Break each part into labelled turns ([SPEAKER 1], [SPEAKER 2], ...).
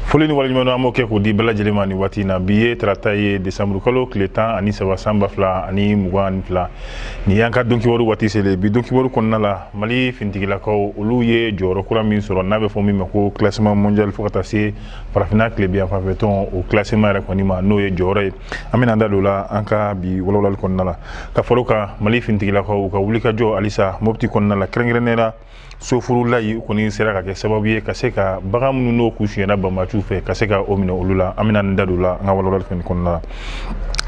[SPEAKER 1] foli ni waleɲumandɔn an b'o kɛ k'o di bɛɛ lajɛlen ma nin waati in na bi ye tarata ye desanburu kalo tile tan ani saba san ba fila ani mugan ani fila nin y'an ka donkibaru waati selen bi donkibaru kɔnɔna la mali finitigilakaw olu ye jɔyɔrɔ kura min sɔrɔ n'a bɛ fɔ min ma ko classement mondial fo ka taa se farafinna tilebinyanfan fɛ tɔn o classement yɛrɛ kɔni ma n'o ye jɔyɔrɔ ye an bɛna da don la an ka bi walawalali kɔnɔna la ka far'o kan mali finitigilakaw ka wulikajɔ halisa mopti kɔnɔna la kɛrɛnkɛrɛnnenya la sofurulayi u kɔni sera ka kɛ sababu ye ka se ka bagan minnu n'o tun sonyana banbaanciw fɛ ka se ka o minɛ olu la an bɛna da don la an ka walawalali fɛn kɔnɔna la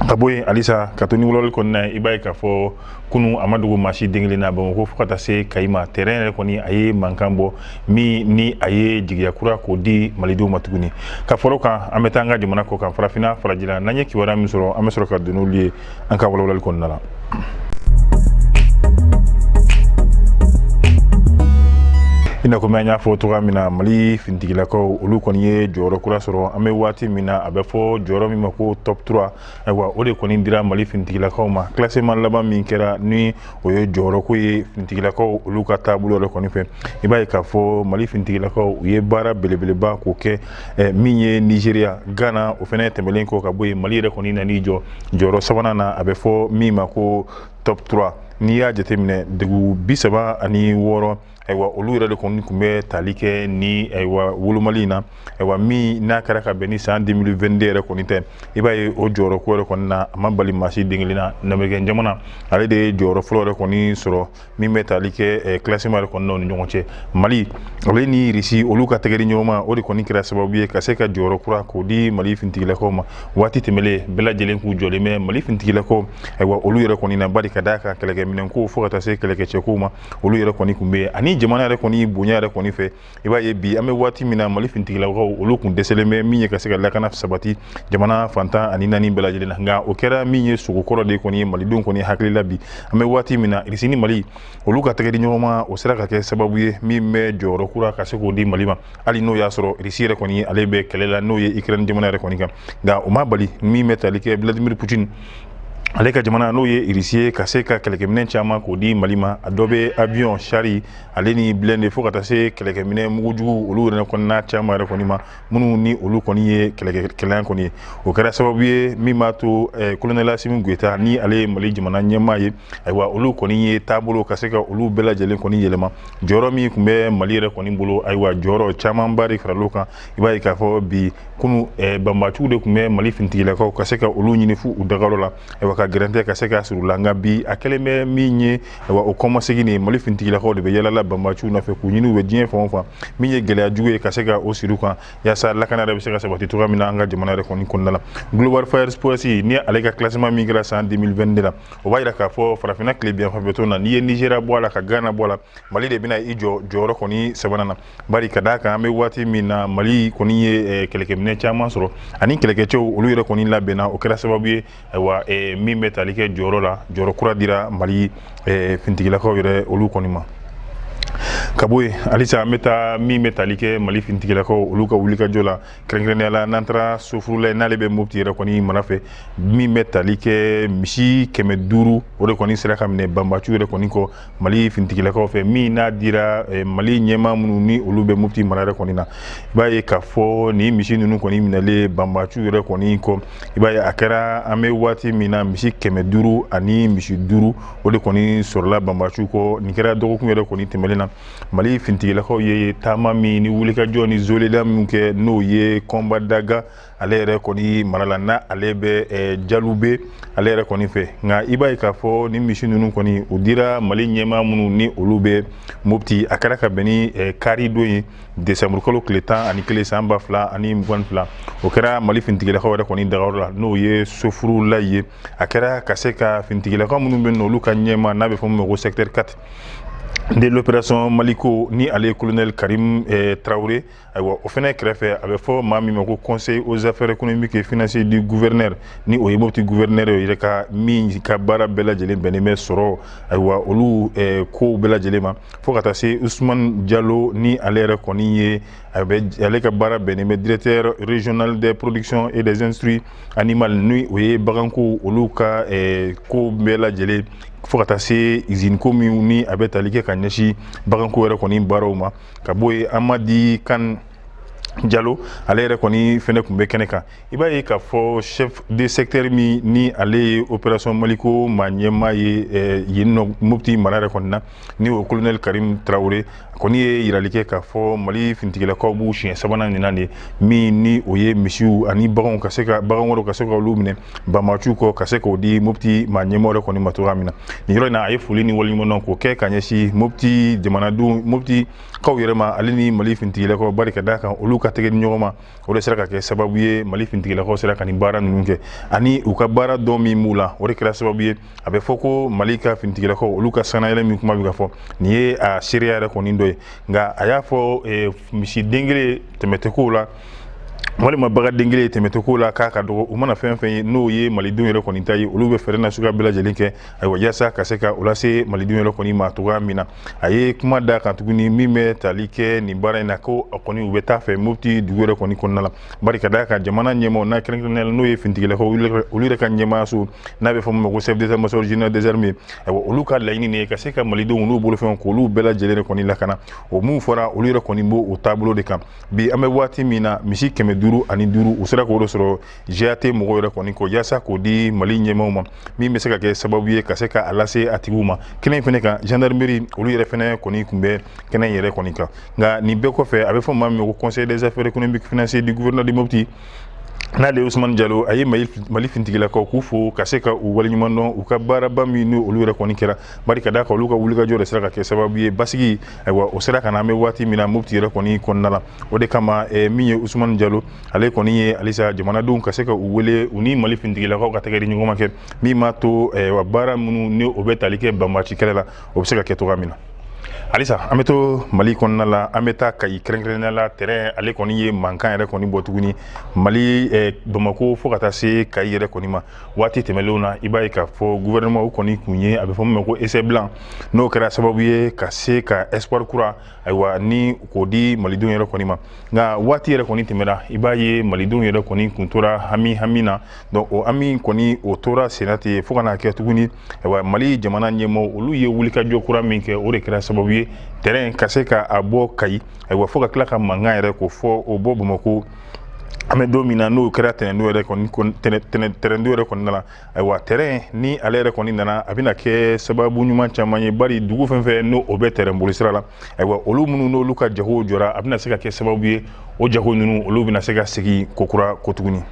[SPEAKER 1] ka bɔ yen halisa ka to ni walawalali kɔnɔna ye i b'a ye k'a fɔ kunu a ma dogo maa si den kelen na bamakɔ fo ka taa se kayi ma tɛrɛn yɛrɛ kɔni a ye mankan bɔ min ni a ye jigiya kura k'o di malidenw ma tuguni ka far'o kan an bɛ taa an ka jamana kɔ kan farafinna farajɛla n'an ye kibaruya min sɔrɔ an bɛ sɔrɔ ka don n'olu ye an ka walawalali kɔnɔna la i n'a komi an y'a fɔ cogoya min na mali finitigilakaw olu kɔni ye jɔyɔrɔ kura sɔrɔ an bɛ waati min na a bɛ fɔ jɔyɔrɔ min ma ko top 3 ayiwa o de kɔni dira mali finitigilakaw ma classement laban min kɛra ni o ye jɔyɔrɔko ye finitigilakaw olu ka taabolo yɛrɛ kɔni fɛ i b'a ye k'a fɔ mali finitigilakaw u ye baara belebeleba k'o kɛ eh, min ye nigeria ghana o fana tɛmɛlen kɔ ka bɔ yen mali yɛrɛ kɔni nan'i jɔ jɔyɔrɔ sabanan na a bɛ fɔ min ma ko top 3 n'i y'a jateminɛ dugu bi saba ani wɔɔrɔ ayiwa olu yɛrɛ de kɔni tun bɛ tali kɛ ni ayiwa wolomali in na ayiwa min n'a kɛra ka bɛn ni san 2022 yɛrɛ kɔni tɛ i b'a ye o jɔyɔrɔ ko yɛrɛ kɔni na a ma bali maa si den kelen na lamerikɛn jamana ale de ye jɔyɔrɔ fɔlɔ yɛrɛ kɔni sɔrɔ min bɛ tali kɛ classement yɛrɛ kɔni na u ni ɲɔgɔn cɛ mali ale ni irisi olu ka tɛgɛ di ɲɔgɔn ma o de kɔni kɛra sababu ye ka se ka jɔyɔrɔ kura k'o di mali finitigilakaw ma waati tɛmɛlen bɛɛ lajɛlen k'u jɔlen bɛ mali finitigilakaw ayiwa olu yɛrɛ kɔni na bari ka d'a kan kɛlɛkɛminɛnko fo ka taa se kɛlɛkɛcɛko ma olu yɛrɛ kɔni tun bɛ yen ani jamana yɛrɛ kɔni bonya yɛrɛ kɔni fɛ i b'a ye bi an bɛ waati min na mali finitigilakaw olu tun dɛsɛlen bɛ min ye ka se ka lakana sabati jamana fan tan ani naani bɛɛ lajɛlen na nka o kɛra min ye sugo kɔrɔ de kɔni ye malidenw kɔni hakili la bi an bɛ waati min na irisi ni mali olu ka tɛgɛ di ɲɔgɔn ma o sera ka kɛ sababu ye min bɛ jɔyɔrɔ kura ka se k'o di mali ma hali n'o y'a sɔrɔ irisi yɛrɛ kɔni ale bɛ kɛlɛ la n'o ye ukraine jamana yɛrɛ kɔni kan nka o ma bali min bɛ tali kɛ vladimir putin ale ka jamana n'o ye irisi ye ka se ka kɛlɛkɛminɛn caman k'o di mali ma a dɔ bɛ avion char ale ni blindé fo ka taa se kɛlɛkɛminɛn mugujugu olu yɛrɛ kɔni na caman yɛrɛ kɔni ma minnu ni olu kɔni ye kɛlɛkɛlan kɔni ye o kɛra sababu ye min b'a to eh, kolonɛli asimi goyita ni ale ye mali jamana ɲɛmaa ye ayiwa olu kɔni ye taabolo ka se ka olu bɛɛ lajɛlen kɔni yɛlɛma jɔyɔrɔ min tun bɛ mali yɛrɛ kɔni bolo ayiwa jɔyɔrɔ camanba de faral'o kan i b'a ye k'a fɔ bi kunu eh, banbaciw de tun bɛ mali finitigilakaw ka se ka olu ɲini fo u dagayɔrɔ la ayiwa ka gɛrɛntɛ ka se ka siri u la nka bi a kɛlen bɛ min ye ayiwa o kɔmasegin nin mali finitigilakaw de bɛ yaala la banbaciw nɔfɛ k'u ɲini u bɛ diɲɛ fan o fan min ye gɛlɛya jugu ye ka se ka o siri u kan yaasa lakana yɛrɛ bɛ se ka sabati cogoya min na an ka jamana yɛrɛ kɔni kɔnɔna la global fire power ni ale ka classement min kɛra san 2022 la o b'a jira k'a fɔ farafinna tilebinyanfan fɛ tɔn na n'i ye nizeriya bɔ a la ka gana bɔ a la mali de bɛna i jɔ jɔyɔrɔ kɔni sabanan na Bari ka d'a kan an bɛ waati min na Mali kɔni ye eh, kɛlɛkɛminɛ caman sɔrɔ ani kɛlɛkɛcɛw olu yɛrɛ kɔni labɛnna o kɛra sababu ye ayiwa eh, min bɛ tali kɛ jɔyɔrɔ la jɔyɔrɔ kura dira Mali eh, finitigilakaw yɛrɛ olu kɔni ma ka bɔ yen halisa an bɛ taa min bɛ tali kɛ mali finitigilakaw olu ka wulikajɔ la kɛrɛnkɛrɛnnenya la n'an taara sofurula n'ale bɛ mopti yɛrɛ kɔni mara fɛ min bɛ tali kɛ misi kɛmɛ duuru o de kɔni sera ka minɛ banbaciw yɛrɛ kɔni kɔ mali fintigilakaw fɛ min n'a dira eh, mali ɲɛmaa minnu ni olu bɛ mopti mara yɛrɛ kɔni na i b'a ye k'a fɔ nin misi ninnu kɔni minɛlen banbaciw yɛrɛ kɔni kɔ i b'a ye a kɛra an bɛ waati min na misi kɛmɛ duuru ani misi duuru o de kɔni sɔrɔla banbaciw kɔ nin kɛra dɔgɔkun yɛrɛ kɔni tɛmɛlen na mali fintigilakaw ye taama min ni wulikajɔ ni zoleda min kɛ n'o ye kɔnba daga ale yɛrɛ kɔni mara la n'ale bɛ eh, jalube ale yɛrɛ kɔni fɛ nka i b'a ye k'a fɔ ni misi ninnu kɔni u dira mali ɲɛmaa minnu ni olu bɛ mopti a kɛra ka bɛn ni eh, kari don ye desanburukalo tile tan ani kelen san ba fila ani mugan fila o kɛra mali finitigilakaw yɛrɛ kɔni dagayɔrɔ la n'o ye sofurula ye a kɛra ka se ka finitigilakaw minnu bɛ yen olu ka ɲɛmaa n'a bɛ fɔ min ma ko secteur 4 de l'opération maliko ni ale ye colonel karim eh, tarawele Ayiwa o fɛnɛ kɛrɛfɛ a bɛ fɔ maa min ma ko conseil aux affaires économiques et financières du gouverneur ni o ye mopti gouverneur yɛrɛ ka min ka baara bɛɛ lajɛlen bɛnnen bɛ sɔrɔ ayiwa olu kow bɛɛ lajɛlen ma fo ka taa se usumani jalo ni ale yɛrɛ kɔni ye a ale ka baara bɛnnen bɛ directeur régional des productions et des industries animales ni o ye baganko olu ka ko bɛɛ lajɛlen fo ka taa se iziniko min ni a bɛ tali kɛ ka ɲɛsin baganko yɛrɛ kɔni baaraw ma ka bɔ yen amadi kan jalo ale yɛrɛ kɔni fɛnɛ tun bɛ kɛnɛ kan i b'a ye k'a fɔ chef de secteur min ni ale ye opération maliko maa ɲɛmaa ye eh, yenninnɔ mopti mara yɛrɛ kɔni na ni o colonel karim tarawele kɔni ye yirali kɛ k'a fɔ mali finitigilakaw b'u siɲɛ sabanan nin na de min ni o ye misiw ani baganw ka se ka bagan wɛrɛw ka se ka olu minɛ banbaciw kɔ ka se k'o di mopti ma ɲɛmaw yɛrɛ kɔni ma cogoya min na nin yɔrɔ in na a ye foli ni waleɲumandɔn k'o kɛ ka ɲɛsin mopti jamanadenw mopti kaw yɛrɛ ma ale ni mali fintigilakaw bari ka d'a kan olu ka tɛgɛdi ɲɔgɔn ma o de sera ka kɛ sababu ye mali fintigilakaw sera ka nin baara ninnu kɛ ani u ka baara dɔn min b'u la o de kɛra sababu ye a bɛ fɔ ko mali ka fintigilakaw olu ka sanayɛlɛ min kuma bɛ ka fɔ nin ye a seereya yɛrɛ kɔni dɔ ye nka a y'a fɔ eh, misiden kelen tɛmɛ tɛ ko la walima baganden kelen tɛmɛ tɛ ko la k'a ka dɔgɔ u mana fɛn fɛn ye n'o ye malidenw yɛrɛ kɔni ta ye olu bɛ fɛɛrɛ nasuguya bɛɛ lajɛlen kɛ ayiwa yaasa ka se ka o lase malidenw yɛrɛ kɔni ma cogoya min na a ye kuma da kan tuguni min bɛ tali kɛ nin baara in na ko a kɔni u bɛ taa fɛ mopti dugu yɛrɛ kɔni kɔnɔna la bari ka d'a kan jamana ɲɛmaw n'a kɛrɛnkɛrɛnnenya la n'o ye fintigilakaw olu yɛrɛ ka ɲɛmaayaso n'a bɛ fɔ min ma ko chef d'état major général des armées ayiwa olu ka laɲini de ye ka se ka malidenw n'u bolofɛnw k'olu bɛɛ lajɛlen de kɔni lakana o mun fɔra olu yɛrɛ kɔni b'o taabolo de kan bi an bɛ waati min na misi kɛmɛ duuru ani duuru u sera k'o de sɔrɔ GAT mɔgɔw yɛrɛ kɔni kɔ yaasa k'o di Mali ɲɛmaaw ma min bɛ se ka kɛ sababu ye ka se ka a lase a tigiw ma kɛnɛ in fɛnɛ kan gendarmerie olu yɛrɛ fɛnɛ kɔni kun bɛ kɛnɛ in yɛrɛ kɔni kan nka nin bɛɛ kɔfɛ a bɛ fɔ maa min ma ko conseil des affaires économiques financières du gouverneur de Mopti n'ale ye Usumani Jalo a ye Mali fintigilakaw k'u fo ka se ka u waleɲumandɔn u ka baaraba min n'olu yɛrɛ kɔni kɛra bari ka d'a kan olu ka wulikajɔ de sera ka kɛ sababu ye basigi ayiwa o sera ka na an bɛ waati min na mopti yɛrɛ kɔni kɔnɔna la o de kama eh, min ye usumani jalo ale kɔni ye halisa jamanadenw ka se ka u wele u ni mali fintigilakaw ka tɛgɛdi ɲɔgɔn ma kɛ min b'a to eh, wa baara minnu ni o bɛ tali kɛ banbaci kɛlɛ la o bɛ se ka kɛ cogoya min na halisa an bɛ to mali kɔnɔna la an bɛ taa kayi kɛrɛnkɛrɛnnenya la tɛrɛn ale kɔni ye mankan yɛrɛ kɔni bɔ tuguni mali eh, bamako fo ka taa se kayi yɛrɛ kɔni ma waati tɛmɛnlenw na i b'a ye k'a fɔ gouvernement o kɔni kun ye a bɛ fɔ min ma ko essai blanc n'o kɛra sababu ye ka se ka espoir kura ayiwa ni k'o di malidenw yɛrɛ kɔni ma nka waati yɛrɛ kɔni tɛmɛna i b'a ye malidenw yɛrɛ kɔni kun tora hami hami na donc o hami kɔni o tora senna ten fo ka n'a kɛ tuguni ayiwa mali jamana ɲɛmaw olu ye wulikajɔ kura min kɛ o de kɛra sababu ye tɛrɛn ka se ka a bɔ kayi ayiwa fo ka tila ka mankan yɛrɛ ko fɔ o bɔ bamakɔ an bɛ don min na n'o kɛra tɛnɛndon ye tɛrɛn nin yɛrɛ kɔni nana ayiwa tɛrɛn ni ale yɛrɛ kɔni nana a bɛna kɛ sababu ɲuman caman ye bari dugu fɛn fɛn n'o bɛ tɛrɛn bolisira la ayiwa olu minnu n'olu ka jago jɔra a bɛna se ka kɛ sababu ye o jago ninnu olu bɛna se ka segin kokura ko tuguni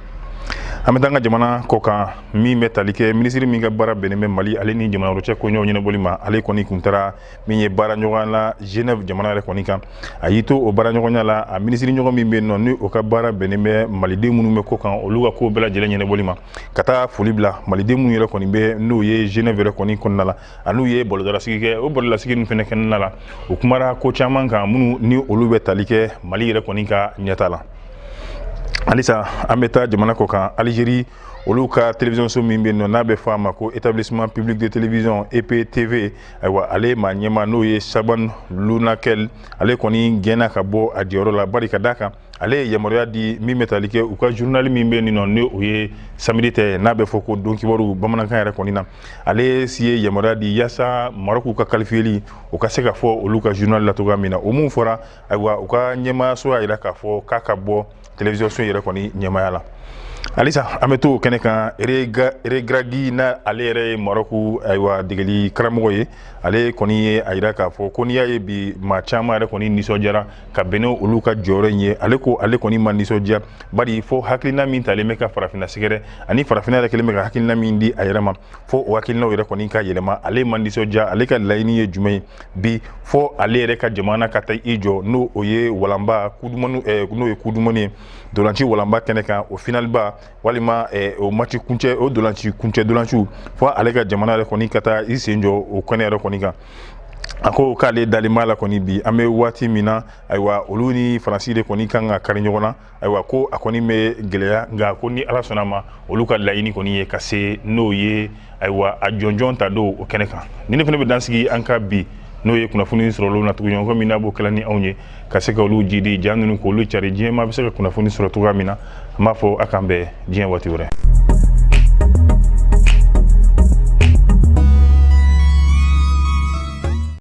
[SPEAKER 1] an bɛ taa an ka jamana kɔ kan min bɛ tali kɛ minisiri min ka baara bɛnnen bɛ mali ale ni jamana wɛrɛ cɛ koɲɛw ɲɛnabɔli ma ale kɔni kun taara min ye baara ɲɔgɔn la Genève jamana yɛrɛ kɔni kan a y'i to o baara ɲɔgɔnya la a minisiri ɲɔgɔn min bɛ yen nɔ ni o ka baara bɛnnen bɛ maliden minnu bɛ kɔ kan olu ka ko bɛɛ lajɛlen ɲɛnabɔli ma ka taa foli bila maliden minnu yɛrɛ kɔni bɛ n'o ye Genève yɛrɛ kɔni kɔnɔna la a n'u ye bɔlɔdalasigi kɛ o bɔlɔdalasigi ninnu fana kɛnɛ la u kumara ko caman kan minnu ni olu bɛ tali kɛ Mali yɛrɛ kɔni ka ɲɛtaa la halisa an bɛ taa jamana kɔ kan Algérie olu ka télévision so min bɛ yen nɔ n'a bɛ fɔ a ma ko établissement public de télévision EPTV ayiwa ale maa ɲɛmaa n'o ye Chabane Lounakel ale kɔni gɛnna ka bɔ a jɔyɔrɔ la bari ka d'a kan ale ye yamaruya di min bɛ tali kɛ u ka journal min bɛ yen nɔ ni o ye samedi tɛ n'a bɛ fɔ ko don kibaru bamanankan yɛrɛ kɔni na ale si ye yamaruya di yaasa marɔku ka kalifiyeli o ka se ka fɔ olu ka journal la cogoya min na o min fɔra ayiwa u ka ɲɛmaayaso y'a jira k'a fɔ k'a ka bɔ télévision so yɛrɛ kɔni ɲɛmaaya la halisa an bɛ to kɛnɛ kan Regragui na ale yɛrɛ ye marɔku ayiwa degeli karamɔgɔ ye ale kɔni ye a yira k'a fɔ ko n'i y'a ye bi maa caman yɛrɛ kɔni nisɔndiyara ka bɛn n'olu ka jɔyɔrɔ in ye ale ko ale kɔni ma nisɔndiya bari fo hakilina min talen bɛ ka farafinna sɛgɛrɛ ani farafinna yɛrɛ kɛlen bɛ ka hakilina min di a yɛrɛ ma fo o hakilinaw yɛrɛ kɔni ka yɛlɛma ale ma nisɔndiya ale ka laɲini ye jumɛn ye bi fo ale yɛrɛ ka jamana ka taa i jɔ n'o o ye walanba coupe du monde eh, n'o ye coupe du monde ye dolanci walanba kɛnɛ kan o finaliba walima eh, o match kuncɛ o dolanci kuncɛ dolanciw fo ale ka jamana yɛrɛ kɔni ka taa i sen jɔ o kɛnɛ yɛrɛ kɔni kan a ko k'ale dalen b'a la kɔni bi an bɛ waati min na ayiwa olu ni faransi de kɔni kan ka kari ɲɔgɔn na ayiwa ko a kɔni bɛ gɛlɛya nka ko ni ala sɔnna a ma olu ka laɲini kɔni ye ka se n'o ye ayiwa a jɔnjɔn ta don o kɛnɛ kan ni ne fana bɛ dansigi an ka bi n'o ye kunnafoni sɔrɔ olu na tugun ɲɔgɔn min n'a b'o kɛla ni anw ye ka se ka olu jidi ja ninnu k'olu cari diɲɛ maa bɛ se ka kunnafoni sɔrɔ cogoya min na an b'a fɔ a k'an bɛn diɲɛ waati wɛrɛ